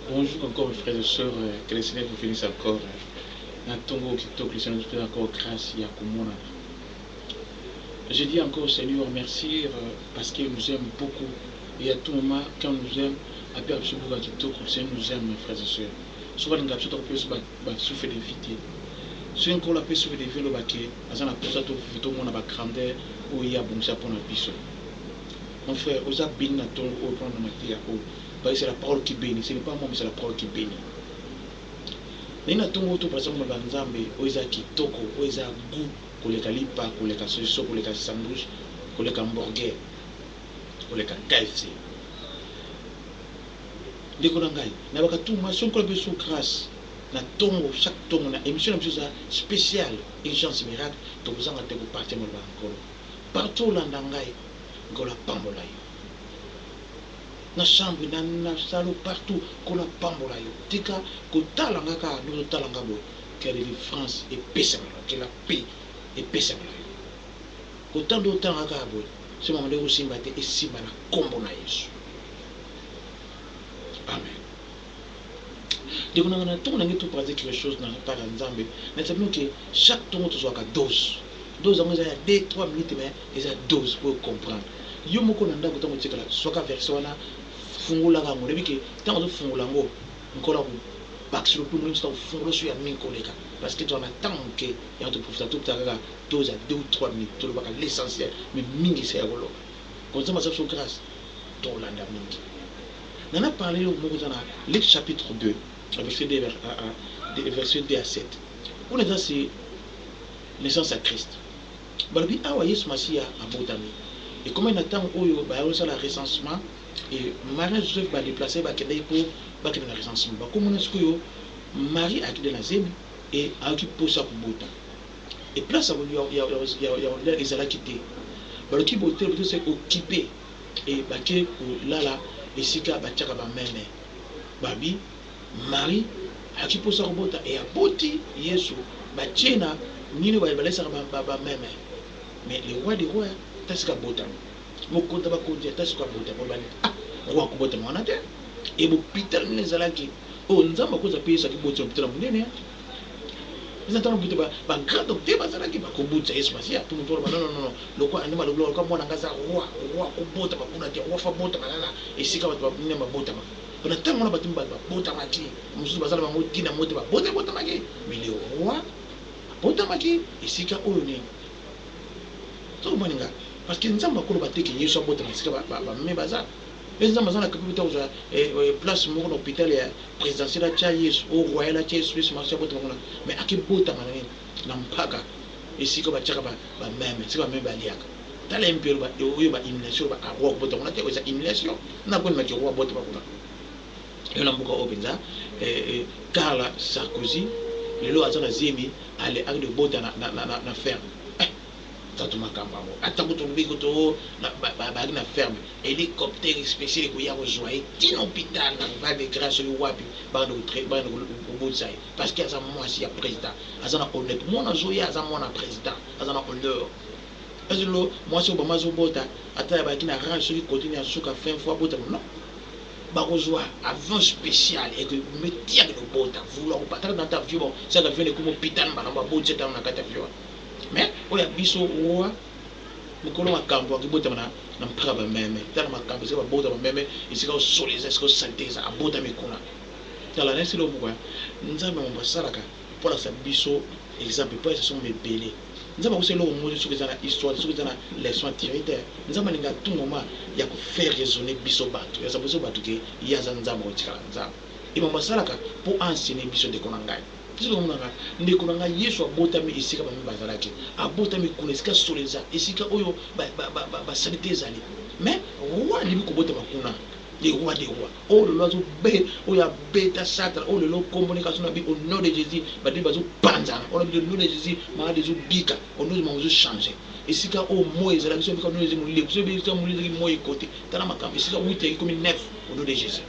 Bonjour encore mes frères et sœurs que le seigneur vous benisse encore na tongo oyo kitoko le seigneur azopesa encore grâce ya komonana je dis encore seigneur merci parce qu'il nous aime beaucoup et à tout moment quand nous aime apeka biso buka kitoko le seigneur nous aime mes frères et sœurs soki alinga biso tokopesa biso basouffle de vie te soki nkolo apesi souffle de vie oloba ke aza na mposa tomona bagrandeur oyo ye abongisa mpo na biso mon frère oza beni na tongo oyo mpo na mateya oyo Pasi c'est la parole qui benit ce n'est pas moi mais c'est la parole qui benit Nani atongo to pasi maloba ya nzambe oyo eza kitoko oyo eza gout koleka lipa koleka soso koleka sandwich koleka hamburger koleka KFC Ndeko na ngai na bakatuma soki nkola biso grace na tongo chaque tongo na emission na biso eza special urgence miracle tokozanga te kopartir maloba ya nkolo partout olanda ngai nkolo apambola yo na chambre na na salon partout nkolo apambola yo tika kotala nga kaka ndenge ozotala nga boye que ya delivrance epesama na yo que la paix epesama na yo kotala ndenge otala nga kaka boye soki makambo ndenge ekosimba te esimba na nkombo na yesu amen Ndeko nanga na tongo na ngai tout pratique les choses na part ya Nzambe na yebisa bino que chaque tongo tozwaka dose dose yango eza ya 2 3 minutes mais eza dose po comprendre yo moko na ndako tango otikala zwaka verset wana fungolaka yango oyebi que tango ozofungola yango nkolo ako bakiselo mpe omoni mosusu akofungola oso ya mingi koleka parce que tozala na ntango moke yango toprofita topesa kaka dose ya 2 ou 3 minutes tolobaka l'essentiel mais mingi se ya koloba konzambe asala biso grâce tolanda mingi na na parle eloko moko eza na Luc chapitre 2 na verset 2 à verset 2 à 7 kuna eza se naissance ya Christ balobi awa Yesu Masiya abotami ekomaki na ntango oyo bayaki kosala recensement et Marie Joseph ba deplacer bakendaki mpo bakende na recensement bakomona sikoyo Marie akende na zemi et ayoki mposa kobota et place ya ya ya ya ezalaki te baloki bote bote se occuper et bake ko lala esika ba tiaka ba meme. Babi Marie aki posa ko bota et aboti yesu ba tie na nini ba lalisaka ba meme mais le roi de roi ata sika bota mokonzi ya ba konzi ata sika bota po ba ah roi ako bota muana te et bopital nini ezalaki oyo nzambe akozua pe yesu aki botisa lopital ya munene. eza ntango kutu bagrand docteur bazalaki bakobutisa yesu masiya mpo moto oloba nonono lokola nde malobi lokola mwana ngai aza roi roi kobotama kuna te roi fa botama kaka esika bato bamine babotama mpo na ntango wana bato mibale babotama ti mosusu bazala bango ti na mote babota ebotamaki mele roi abotamaki esika oyo nini tokomoni ngai parce que nzambe akoloba te ke yesu abotama esika bamime baza Pe Nzambe aza na capable te akozwa eh place moko na hopital ya presidentiel atia Yesu ou royal atia Yesu Yesu masiya abotama kuna mais ake botama na nini? Na mpaka esika batiaka ba ba meme esika ba meme baliaka tala MP oloba oyo ba humiliation oloba ah roi kobotama kuna te oyo eza humiliation na boni maki roi abotama kuna yo na mboka oyo penza eh eh Carla Sarkozy lelo aza na zemi ale ake de bota na na na na ferme Tatu makambo yango ata kutu olobi kutu oh bazalaki na ferme helicoptère special ekoya kozua ye ti na hopital na val de grace soki wapi bakende kobotisa ye parce que aza mwasi ya president aza na honneur mwana azoya aza mwana president aza na honneur est ce que mwasi obama azobota ata yabaki na rage soki kotini ya suka fin fois abota non bakozwa avion spécial ekometia kobota vouloir kopatala na ta avion saka avion ekomi hôpital mbala babotisa tango na kati avion Mais oyo ya biso oa mukolo makambu ake botama na na mpaka ba meme tala makambu esika ba bota ba meme esika o solo eza esika o salite eza a botami kuna tala nayebisi eloko moko ya nzambe mambo asalaka mpo alakisa biso exemple mpo ayesa somo ebele nzambe akosa eloko moko te soki eza na histoire soki eza na leçon à tirer te nzambe alinga à tout moment ya ko faire raisonner biso bato ya saboso bato ke ye aza nzambe akotikala nzambe e mambo asalaka mpo a enseigner biso ndeko na ngai Soki omona nga ndeko na nga yesu abotami esika ba mimi bazalaki abotami kuna esika solo eza esika oyo ba salite ezali mais roi alibi kobotama kuna le roi de roi oyo lelo azo be oyo abeta satra oyo lelo kombo ne kaso na bi au nom de jesus ba bibi bazo panzana oyo au nom de jesus malade ezo bika au nom de mamu ezo changer esika oyo moi ezalaki soki au nom de jesus molili soki esika molili ezalaki moi ekote tala makambo esika 8 yaki komi 9 au nom de jesus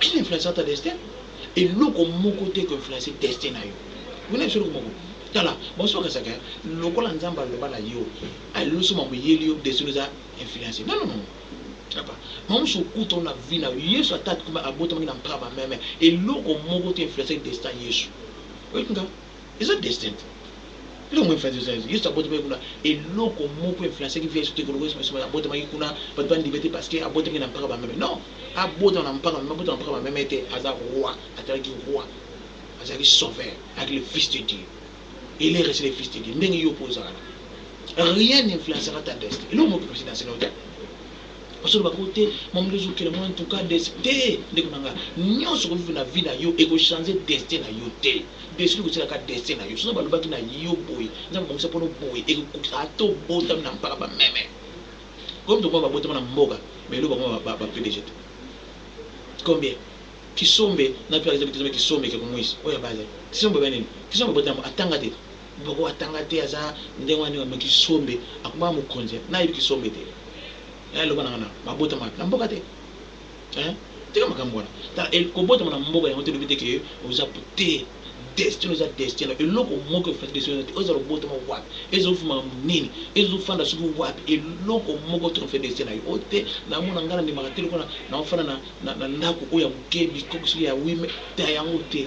Qui influencera ta destin? Eloko moko te eko influencer destin na yo. Okoki na yebisa eloko moko? Tala, basusu bakanisaka lokola Nzambe aloba na yo, alelisi yo mambo eyeli yo, destin na yo eza influencer. Non, non, non, non. Papa, mawa mosusu okuta yo na vie na yo. Yesu ata abotamaki na mpaba meme, eloko moko te e influencaki destin ya Yesu. Oyebi nga? Eza destin te eloko influence eza eza yesu abotamaki kuna eloko moko influencaki vie ya yesu te koloko yesu masuba abotamaki kuna bato bandiba te parce que abotamaki na mpaka bameme non abotama na mpaka bameme abotama na mpaka bameme te aza roi atalaki roi azalaki sauveur avec le fils de dieu il est resté le fils de dieu ndenge yo mpo ozalaka rien influencaka ta destin eloko moko influence na nsina yo te Ozo loba ko te mamdo ozo kela ngo en tout cas des te ndeko na nga nionso oko vivre na vie na yo eko changer destin na yo te destin eko tika kaka destin na yo soki ba lobaki na yo boye nzambe abongisa pona oboye eko kokisa ata obotami na mpaka ba meme comme to mona ba botama na mboka mais loba ngo ba ba pdg te combien kisombe na pire kisobe kisombe ke kumuisa oya baza kisombe ba nini kisombe botama atanga te Ngoko atanga te aza ndenge wana nioka mais kisombe akomaka mokonzi hein n'a yebi kisombe te hein loba nanga n'a ba botama wapi n'a mboka te hein tika makambu wana tala el kobotama n'a mboka yango te elobi te que oza te destin oza destin nayo eloko moko efati destin nayo te ozala obotama wapi ezo vuma makambu nini ezo fanda soki wapi eloko moko te ofe destin nayo oyo te n'a mona nga n'a ndimaka te lokola n'a ofanda n'a n'a ndaku oyo ya muke bikoki soki ya 8 mais ta yango te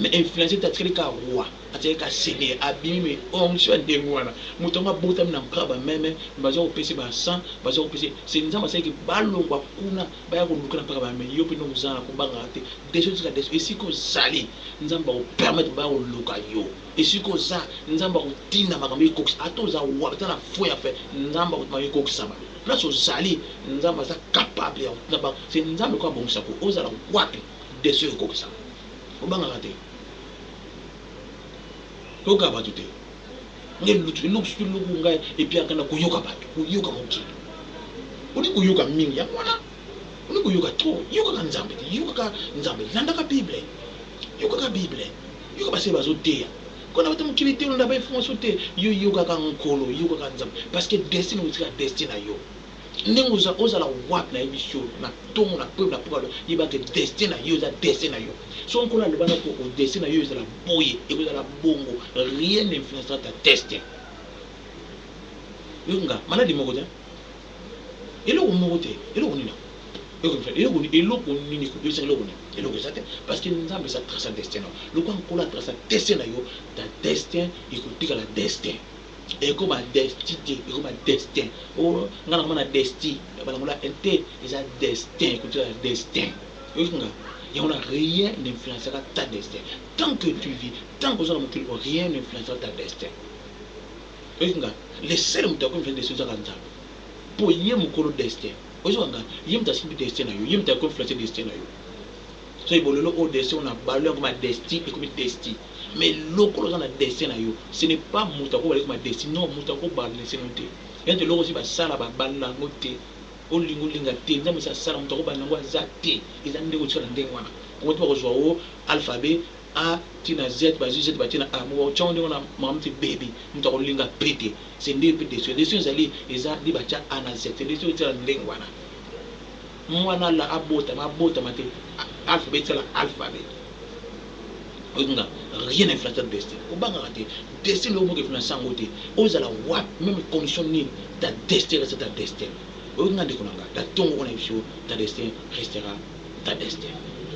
Mais influencer te atikali kaka roi atikali kaka seigneur abimi mais onction ya ndenge wana mutu yango abotami na mpka ba meme mais baza kopese ba encens baza kopese se nzambe asali ke balongwa kuna baya koluka na mpka ba meme yo pe nde ozanga kobangaka te desho tika desho esika ozali nzambe ako permettre baya koluka yo esika oza nzambe akotinda makambo ekokisa ata oza wapi ata na faux ya fe nzambe akotuma yo ekokisama place ozali nzambe aza capable ya kotinda bango se nzambe ko abongisa ko ozala wapi Desho yo kokisa obangaka te koyoka batu te ngai lutu eloko soki eloko ngai epiaka na koyoka batu koyoka mokili olingi koyoka mingi yango wana olingi koyoka tro yokaka nzambe te yokaka nzambe landaka bible yokaka bible yoka base bazoteya kona bata mokili te olanda bainformation te yo yokaka nkolo yokaka nzambe parce que destin otika destin na yo Ndenge oza ozala wapi na yebi siyo na tongo na peuple na peuple alo yeba ke destin na yo eza destin na yo soki nkolo aloba na ko o destin na yo ezala boye eko zala bongo rien n'influencera ta destin yo nga malade moko te eloko moko te eloko nini eloko nini eloko nini ko bebisa eloko nini eloko eza te parce que nzambe eza trace ya destin na yo lokwa nkolo a trace ya destin na yo ta destin eko tikala destin Eko ba desti te eko ba destin oh nga na mona desti ba longola elle te eza destin eko tikala destin oyoki nga yango na rien n'influencaka ta destin tant que tu vis tant que oza na mokili oyo rien n'influencaka ta destin oyoki nga le seul moto ako influencer destin eza kaka Nzambe po ye mukolo destin oyoki nga ye moto asimbi destin na yo ye moto ako influencer destin na yo Soki bolole oyo destin oyo na balole yango ma desti ekomi testi mais lokola oza na destin na yo ce n'est pas mutu ako bala yo ma desti non mutu ako balnese no te ya nte eloko esi ba sala ba balela yango te olinga olinga te nzambe esi asala mutu ako bala nango aza te eza nde kotika na ndenge wana kongo te bako zua o alphabe a ti na z ba zui z ba ti na a moko otiango ndenge wana makambo te baby mutu ako linga pe te se nde yo pe destin destin ezali eza nde ba tia a na z te destin oyo tia na ndenge wana Muana la abotama abotama te alphabet sala alphabet oyebi nga rien ne flatter destin kobangaka te destin oyo moto eflance yango te ozala wapi meme condition nini ta destin reste ta destin oyebi nga ndeko na nga ta tongo wana biso ta destin restera ta destin.